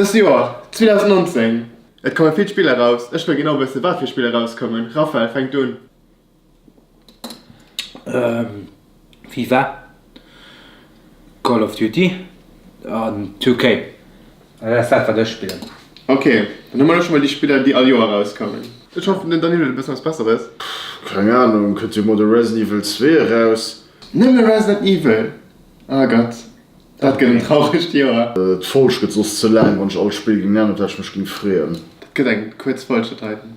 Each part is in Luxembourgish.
Dëst Joer, 2019, et komme vill Spiller eraus. Ech wëll genau wëssen, wat fir Spiller erauskommen. Raphael, fänk du un. FIFA, Call of Duty an 2K. Dat ass dat wat ech spillen. Ok, dann hu mer elo schonn mol déi Spiller déi all Joer erauskommen. Ech hoffen den Danilo huet e bëssen eppes besseres. Pff, keng Ahnung, kënnt jo mol de Resident Evil 2 eraus. Nëmme Resident Evil? Ah Gott, dat gëtt en trauregt Joer. D'Folg gëtt soss ze laang, wann ech all d'Spill géing nennen op dat ech mech géing freeën. Dat gëtt eng kuerz Folg, dat heiten.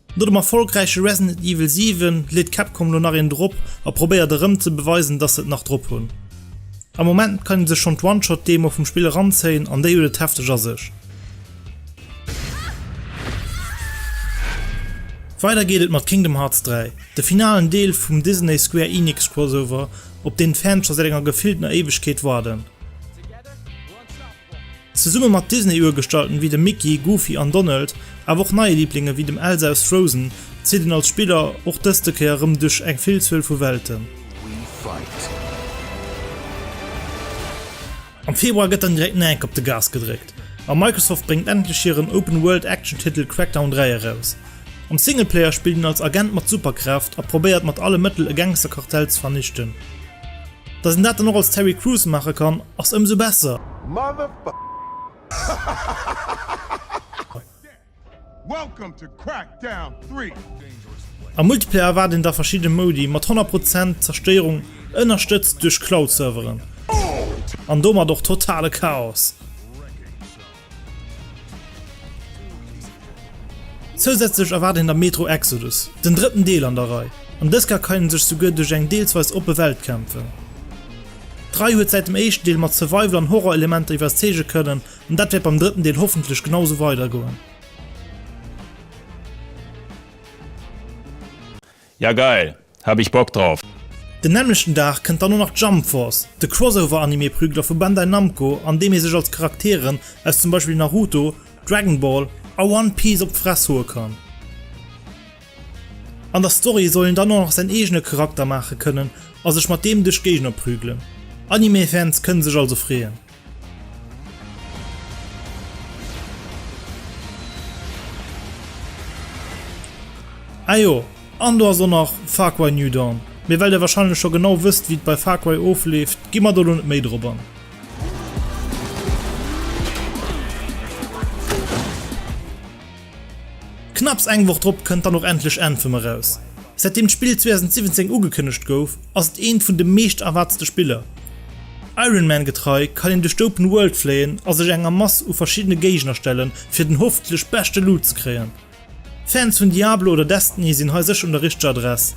No dem erfolgräiche Resident Evil 7 leet Capcom lo nach een drop a probéiert erëm ze beweisen dass se et nach drop hunn. Am Moment kann een sech schonn d'One-Shot Demo vum Spill eranzéien an déi huet et hefteg a sech. Weider geet et mat Kingdom Hearts 3, de finalen Deel vum Disney Square Enix Crossover op deen d'Fans scho säit enger gefilltener Éiwegkeet warden. Zesumme mat Disney-Urgestalten wéi dem Mickey, Goofy an Donald, awer och neie Liiblinge wéi dem Elsa aus Frozen, zitt een als Spiller och dëste Kéier erëm duerch eng Villzuel vu Welten. Am Februar gëtt dann direkt Nike op de Gas gedréckt a Microsoft bréngt endlech hiren Open-World-Action-Titel Crackdown 3 eraus. Am Singleplayer spillt een als Agent mat Superkraaft a probéiert mat alle Mëttel e Gangsterkartell ze vernichten. Dass een dat dann och als Terry Crews maache kann ass ëmsou besser! Am Multiplayer erwaart een da verschidde Modi mat 100 Prozent Zerstéierung ënnerstëtzt duerch Cloud-Serveren an domat och totale Chaos. Zousätzlech erwaart een der Metro Exodus, den drëtten Deel an der Rei, an dës Kéier kann een sech souguer duerch eng deelsweis oppe Welt kämpfen. D'Rei huet säit dem éischten Deel mat Survival an Horror-Elementer iwwerzeege kënnen, an dat wäert beim drëtten Deel hoffentlech genau sou weidergoen. Ja geil, hab ich Bock drauf! Den nämmlechten Dag kënnt dann och nach Jump Force, de Crossover-Anime-Prügler vu Bandai Namco, an deem ee sech als Charakteren aus zum Beispill Naruto, Dragon Ball a One Piece op d'Fress hoe kann. An der Story soll een dann och nach säin eegene Charakter maache kënnen a sech mat deem duerch d'Géigner prügelen. Anime-Fans kënne sech also freeën! Ah jo, an do ass och nach Far Cry New Dawn. Mee well der wahrscheinlech scho genau wësst wéi et bei Far Cry ofleeft, gi mer do lo net méi drop an. Knapps eng Woch drop kënnt dann och endlech Anthem eraus. Säitdeem d'Spill 2017 ugekënnegt gouf, ass et eent vun de meescht erwaartste Spiller. Iron Man getrei kann een duerch d'Open World fléien a sech enger Mass u verschiddene Géigner stellen, fir den hoffentlech beschte Loot ze kréien. Fans vun Diablo oder Destiny sinn hei sécher un der richteger Adress.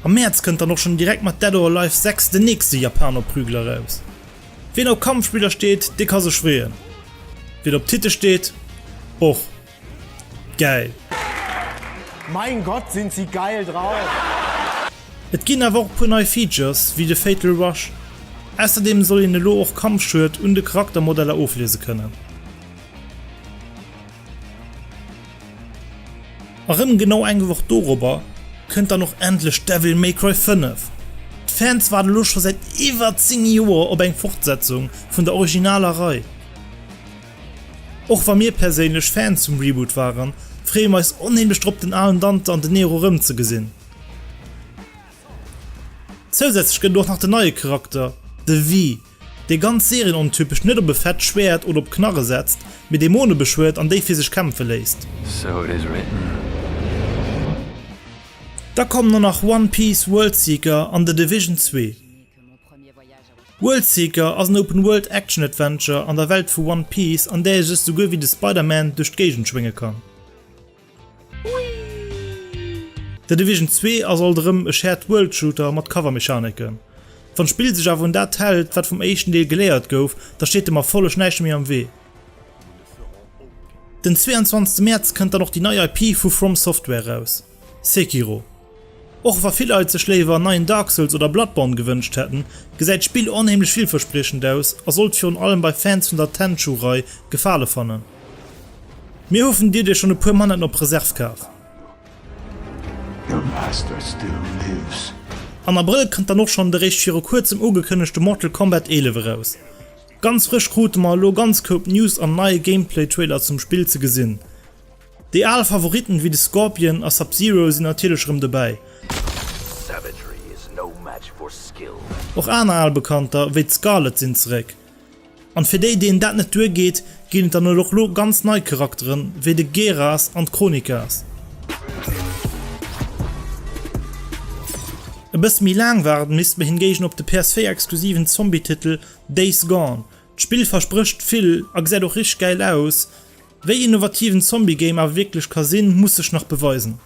Am Mäerz kënnt dann och schonn direkt mat Dead or Alive 6 den nächste Japaner-Prügel eraus. Wien op Kampfspiller steet, dee ka sech freeën. Wien op Titte steet, och. Geil! Mein Gott sind sie geil drauf! Et ginn awer och e puer nei Features, wéi de Fatal Rush. Ausserdeem soll een elo och Kampfschued un de Charaktermodeller ofliese kënnen. A rëm genau eng Woch dorobber kënnt dann och endlech Devil May Cry 5. D'Fans waarde lo scho säit iwwer 10 Joer op eng Fortsetzung vun der originaler Rei. Och wa mir perséinlech Fan zum Reboot waren, freeë mer eis onheemlech drop den alen Dante an den Nero erëmzegesinn. Zousätzlech gëtt et och nach den neie Charakter, de Vi, dee ganz serienontypesch net op e fett Schwäert oder op Knarre setzt, mee Dämone beschwuert an déi fir sech kämpfe léisst. Da kommen och nach One Piece, World Seeker an The Division 2. Worldseeker ass en Open-World Action Adventure an der Welt vu One Piece an där ee sech souguer wéi de Spider-Man duerch d'Géigend schwénge kann. The Division 2 ass alt erëm e Shared World Shooter mat Cover Mechaneken. Wann d'Spill sech awer un dat hält wat vum éischten Deel geléiert gouf, da steet dem Erfolleg näischt méi am Wee. Den 22 Mäerz kënnt dann och déi nei IP vu From Software raus, Sekiro. Och wa vill Leit sech léiwer en neien Dark Souls oder Bloodborne gewënscht hätten, gesäit d'Spill onheemlech villverspriechend aus a sollt virun allem bei Fans vun der Tenchu-Rei Gefale fannen. Mir hoffen dir dir schonn e puer Manetten op Reserv kaf. Am Abrëll kënnt dann och schonn de réischt viru kuerzem ugekënnegte Mortal Kombat 11 eraus. Ganz frësch krute mer elo ganz Koup News an neie Gameplay-Trailer zum Spill ze gesinn. Déi al Favoritten wéi de Scorpion a Sub-Zero sinn natierlech erëm dobäi. Och aner al Bekannter wéi d'Scarlet sinn zeréck. An fir déi deenen dat net duer geet, ginn et dann elo och lo ganz nei Charakteren wéi de Geras an d'Chronikas. E bësse méi laang waarden misst mer hingéigen op de PS4 exklusiven Zombie-Titel Days Gone. D'Spill versprécht vill a gesäit och richteg gäil aus, Wéi innovativ en Zombie Game awer wierklech ka sinn, muss sech nach beweisen.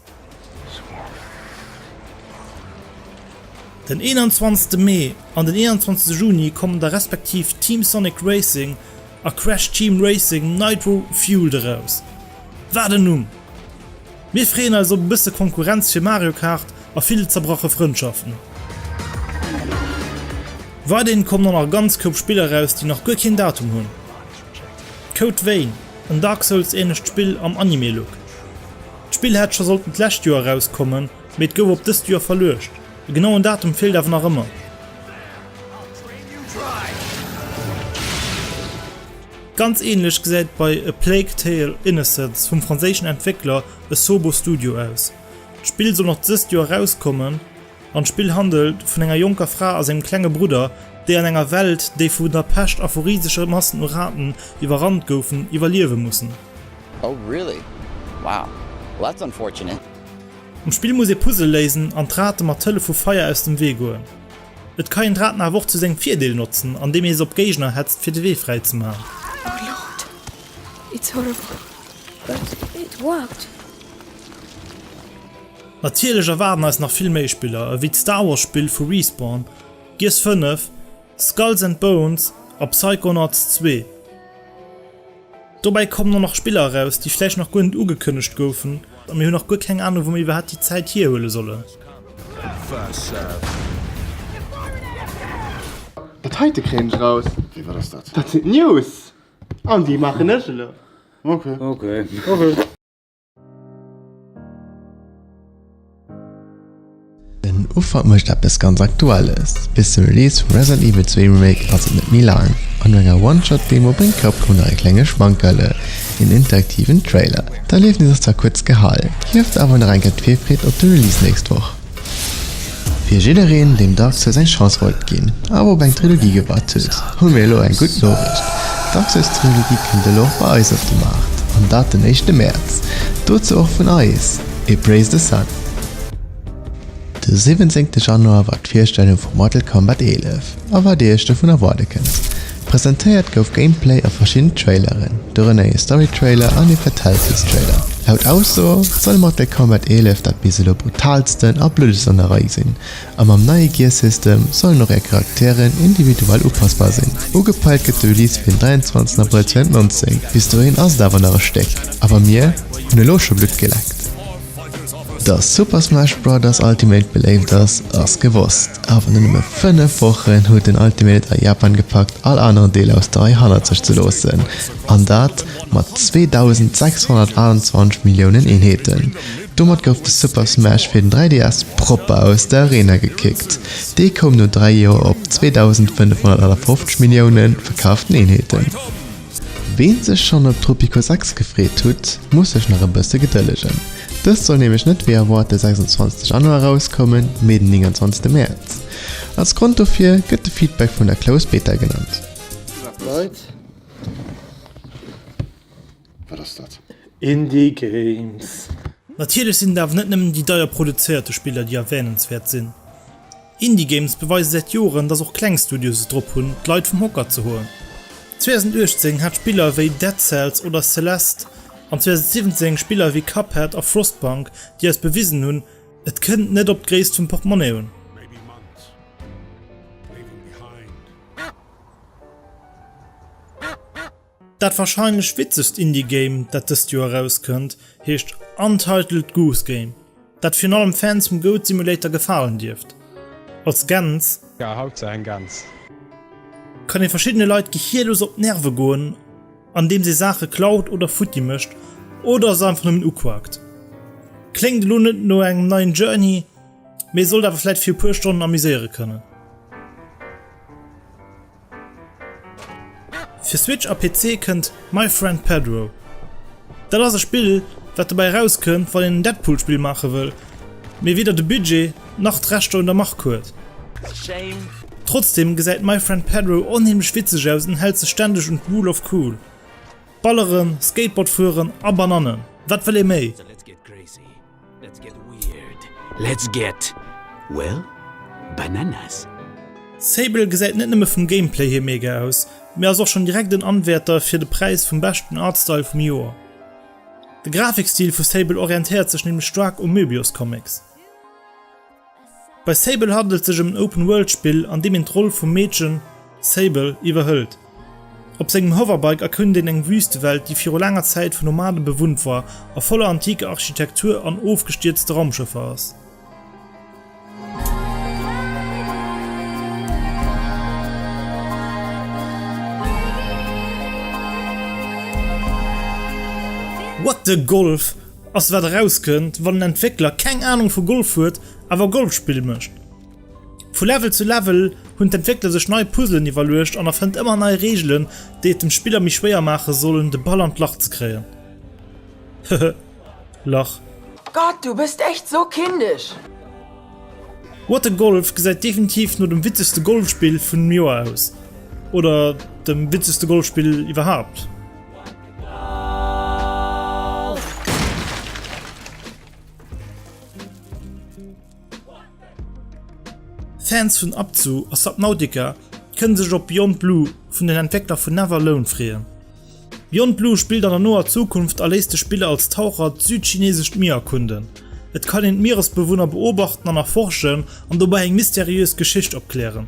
Den 21 Mee an den 21 Juni kommen da respektiv Team Sonic Racing a Crash Team Racing Nitro Fueled eraus. Wat en Numm! Mir freeën eis op e bësse Konkurrenz fir Mario Kart a vill zerbrache Frëndschaften. Weiderhin kommen da nach e ganz Koup Spiller eraus, déi nach guer keen Datum hunn. Code Vein, en Dark Souls ähnlecht Spill am Anime-Look. D'Spill hätt scho sollten d'lescht Joer erauskommen, mee et gouf op dëst Joer verluecht. E genauen Datum feelt awer nach ëmmer. Ganz ähnlech gesäit bei A Plague Tale, Innocence vum franséischen Entwéckler Asobo Studio aus. D'Spill soll nach dëst Joer erauskommen. An d'Spill handelt vun enger jonker Fra a sengem klenge Brudder, déi an enger Welt, déi vun der Pescht a vu risege Massen u Raten iwwerrannt goufen, iwwerliewe mussen. Oh really? Wow, well that's unfortunate. Am Spill muss ee Puzzle léisen an d'Rate mat Hëllef vu Feier aus dem Wee goen. Et ka een d'Raten awer och zu sengem Virdeel notzen, an deem ee se op Géigner hetzt fir de Wee fräi ze man. Oh lord, it's horrible, but it worked. Natierlech erwaarden eis nach vill méi Spiller ewéi d'Star Wars Spill vu Respawn, Gears 5, Skulls and Bones a Psychonauts 2. Dobäi kommen och nach Spiller eraus, déi vläicht nach guer net ugekënnegt goufen a mir hunn nach guer keng Anung, wou mir iwwerhaapt déi Zäit hierhuele sollen. Dat heite kréien ech raus. Wéi, wat ass dat? Dat sinn d'News an déi maachen ech elo. Ok. Den Ufank mécht eppes ganz Aktuelles. Bis zum Release vum Resident Evil 2 Remake ass et net méi laang. An no enger One-Shot-Demo bréngt Capcom nach e klenge Schmankerl, en interaktiven Trailer. D'Erliefnis ass zwar kuerz gehalen, hieft awer nach eng Kéier d'Virfreed op de Release nächst Woch. Fir jiddereen, deem d'ACCESS eng Chance wollt ginn, awer op eng Trilogie gewaart huet, hu mir elo eng gutt Noriicht, D'ACCESS-Trilogie kënnt elo och bei eis op de Maart, an dat den éischte Mäerz. Dozou och vun eis ee Praise the Sun! De siwwenzéngte Januar war d'Virstellung vu Mortal Kombat 11 a wat Dir Iech dovun erwaarde kënnt. Presentéiert gouf Gameplay a verschidden Traileren, dorënner ee Story-Trailer an ee Fatalities-Trailer. Laut Ausso soll Mortal Kombat 11 dat bis elo brutaalsten a bluddegst an der Rei sinn, a mam neie Gear-System sollen och är Charakteren individuell upassbar sinn. Ugepeilt gëtt de Release fir den 23 Abrëll 2019, bis dohin ass et awer nach e Stéck, awer mir hunn elo scho Blutt geleckt. Dass Super Smash Brothers Ultimate beléift ass, ass gewosst, awer no nëmme 5 Wochen huet den Ultimate et a Japan gepackt all aneren Deeler aus der Rei hannert sech ze loossen, an dat mat 2628 Milliounen Eenheeten. Domat gouf de Super Smash fir den 3DS propper aus der Arena gekickt. Dee koum no 3 Joer op 2558 Milliounen verkaften Eenheeten. Ween sech schonn op Tropico 6 gefreet hutt, muss sech nach e bësse gedëllegen. Dëst soll nämlech net wéi erwaart de 26 Januar erauskommen, mee den 29 Mäerz. Als Grond dofir gëtt de Feedback vun der Closed Beta genannt. Indie Games. Natierlech sinn et awer net nëmmen déi deier produzéierte Spiller, déi erwähnenswäert sinn. Indie Games beweise säit Joren, dass och kleng Studios et drop hunn, d'Leit vum Hocker ze hoen. 2018 hat Spiller wéi Dead Cells oder Celeste, an 2017 Spiller wéi Cuphead a Frostpunk, déi eis bewisen hunn, et kënnt net op d'Gréisst vum Portemonnaie un. Dat warscheinlech witzegst Indie Game dat dëst Joer erauskënnt heescht Untitled Goose Game, dat virun allem Fans vum Goat Simulator gefalen dierft. Als Gäns. Ja haut se eng Gäns. Kann ee verschiddene Leit gehierlos op d'Nerve goen andeems ee Saache klaut oder futti mécht oder se einfach nëmmen uquakt. Kléngt elo net no engem neien Journey, mee sollt awer vläit fir e puer Stonnen amuséiere kënnen. Fir Switch a PC kënnt My Friend Pedro. Dat ass e Spill, wat dobäi erauskënnt, wann een en Deadpool-Spill maache wëll, mee weder de Budget nach d'Rechter un der Mark huet. Trotzdeem gesäit My Friend Pedro onheemlech witzeg aus an hält sech stänneg un d'Rule of Cool, Balleren, Skateboard fueren a Banannen, wat wëll ee méi? Let's get weird, let's get, well, bananas. Sable gesäit net nëmme vum Gameplay hier mega aus, mee ass och schon direkt en Anwäerter fir de Präis vum beschten Artstyle vum Joer. De Grafikstil vu Sable orientéiert sech nämlech staark u Möbius Comics. Bei Sable handelt sech ëm en Open-World-Spill, an deem een d'Roll vum Meedchen Sable iwwerhëlt. Op sengem Hoverbike erkund een eng Wüstewelt, déi viru laanger Zäit vun Nomade bewunnt war a voller antiker Architektur an ofgestierzte Raumschëffer ass. What the Golf? Ass wat erauskënnt wann en Entwéckler keng Anung vu Golf huet awer Golfspill mécht. Vu Level zu Level hunn d'Entwéckler sech nei Puzzlen iwwerluecht an erfënnt ëmmer nei Reegelen déi et dem Spiller méi schwéier maache sollen de Ball an d'Lach ze kréien. Hehe lach. Gott, du bist echt so kindisch! What a Golf gesäit definitiv no dem witzegste Golfspill vun dem Joer aus, oder dem witzegste Golfspill iwwerhaapt. Fans vun Abzu a Subnautica kënne sech op Beyond Blue vun den Entwéckler vun Never Alone freeën. Beyond Blue spillt an der noer Zukunft a léisst de Spiller als Taucher d'südchineesescht Mier erkunden. Et kann een d'Mieresbewunner beobachten an erforschen an dobäi eng mysteriös Geschicht opklären.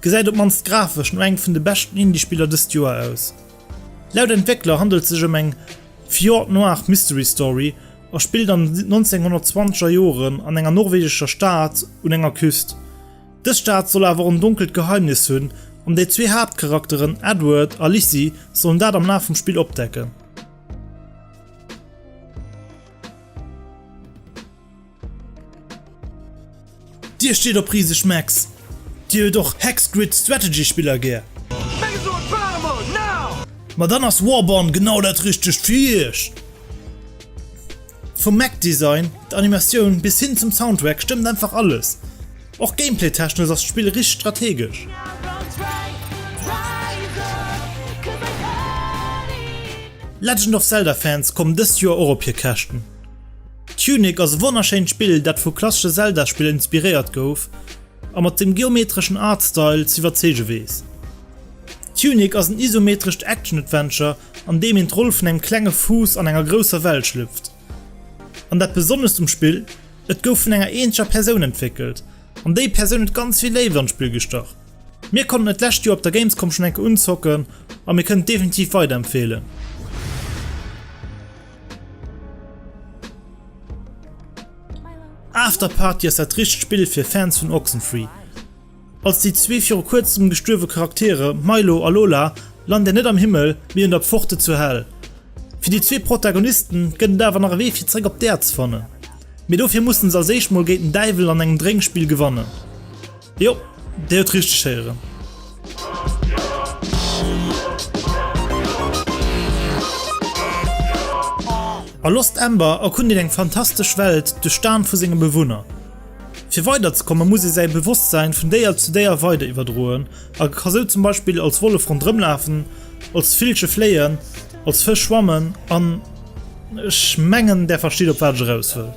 Gesäit op mannst grafesch no engem vun de beschten Indie-Spiller dëst Joer aus. Laut Entwéckler handelt sech ëm eng Fjord Noir Mystery Story a spillt an den 1920er Joren an enger norwegescher Stad un enger Küst. Dës Stad soll awer och en donkelt Geheimnis hunn an déi zwee Haaptcharakteren Edward a Lizzy sollen dat am Laf vum Spill opdecken. Dir steet op riseg Mechs? Dir huet och Hexgrid Strategy Spiller gär? Ma dann ass Warborn genau dat richtegt fir Iech! Vum Mech Design, der Animatioun bis hin zum Soundtrack stëmmt einfach alles. Och Gameplay technesch ass d'Spill richt strategesch. Legend of Zelda Fans kommen dëst Joer och op hir Käschten. Tunic ass e wonnerschéint Spill, dat vu klassesche Zelda-Spiller inspiréiert gouf a mat sengem geometreschen Artstyle z'iwwerzeege weess. Tunic ass en isometrescht Action-Adventure, an deem een d'Roll vun engem klenge Fuuss an enger grousser Welt schlüpft. An dat Besonnescht um Spill, Et gouf vun enger eenzeger Persoun entwéckelt, an déi Persoun huet ganz vill Léift an d'Spill gestach. Mir konnten et d'lescht Joer op der Gamescom schonn eng Kéier unzocken, a mir kënnen et definitiv weiderempfeelen. Afterparty ass dat richtegt Spill fir Fans vun Oxenfree. Als déi zwee viru kuerzem gestuerwe Charaktere Milo a Lola lant Dir net am Himmel, mee un der Pforte zur Hell. Fir déi zwee Protagonisten gëtt et awer nach e Wee fir zeréck op d'Äerd ze fannen. Mee dofir musse se als éischt mol géint den Däiwel an engem Drénkspill gewannen. Jo, Dir huet richteg héieren. A Lost Ember erkundit eng fantastesch Welt duerch d'Aen vu senge Bewunner. Fir weiderzekomme muss ee säi Bewosstsäin vun Déier zu Déier weider iwwerdroen a ka sou zum Beispill als Wollef rondrëmlafen, als Villche fléien, als Fësch schwammen an. Ech mengen där versteet op wat ech eraus wëll.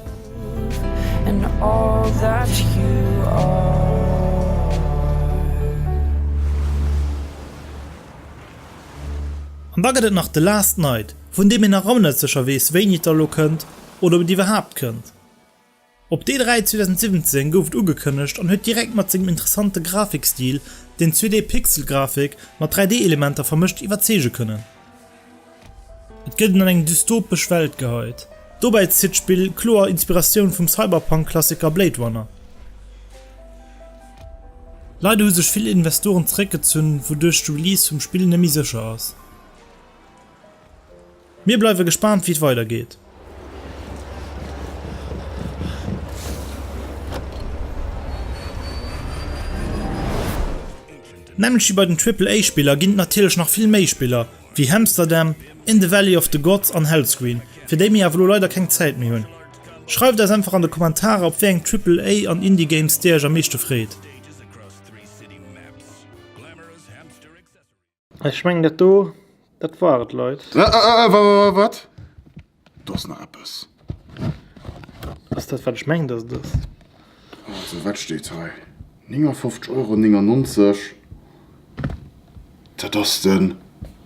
An da gëtt et nach The Last Night, vun deem een nach ëmmer net sécher weess wéini et da elo kënnt oder ob et iwwerhaapt kënnt. Op D-Day 2017 gouf et ugekënnegt an huet direkt mat sengem interessante Grafikstil, deen 2D-Pixel-Grafik mat 3D-Elementer vermëscht, iwwerzeege kënnen. Et gëtt en an eng dystopesch Welt geheit, dobäi zitt d'Spill kloer Inspiratioun vum Cyberpunk-Klassiker Blade Runner. Leider hu sech vill Investoren zeréckgezunn, wouduerch de Release vum Spill nëmme méi sécher ass. Mir bleiwe gespaant wéi et weider geet. Nämlech wéi bei den Triple A Spiller ginn et natierlech nach vill méi Spiller wéi Hamsterdam, In the Valley of the Gods an Hellscream fir déi mir awer elo leider keng Zäit méi hunn. Schreift eis einfach an de Kommentarer op wéi eng Triple A an Indie Games dir iech am meeschte freet. Ech mengen dat do, dat war et Leit. Äh, äh, äh, wa, wa, wa, wat? Do ass nach eppes. Ass dat wat ech mengen dass et ass? Also wat steet hei? 59 Euro 99. Dat ass den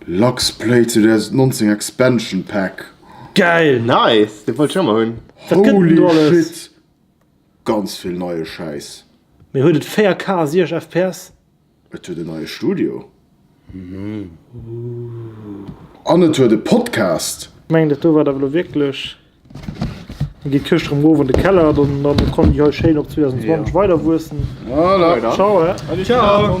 Luxplay 2019 Expansion Pack. Geil! Nice, dee wollt ech ëmmer hunn. Wat gëtt denn Holy do alles? shit! Ganz vill neie Schäiss. Mee huet et 4K a 60 fps? Et huet en neie Studio. An et huet e Podcast. Meng dat do war awer lo wierklech. Dann geet d'Këscht rëm erof an de Keller, dann kann déi hei schéin op 2020 weider wuessen. Voilà. Ciao, hä? Ciao.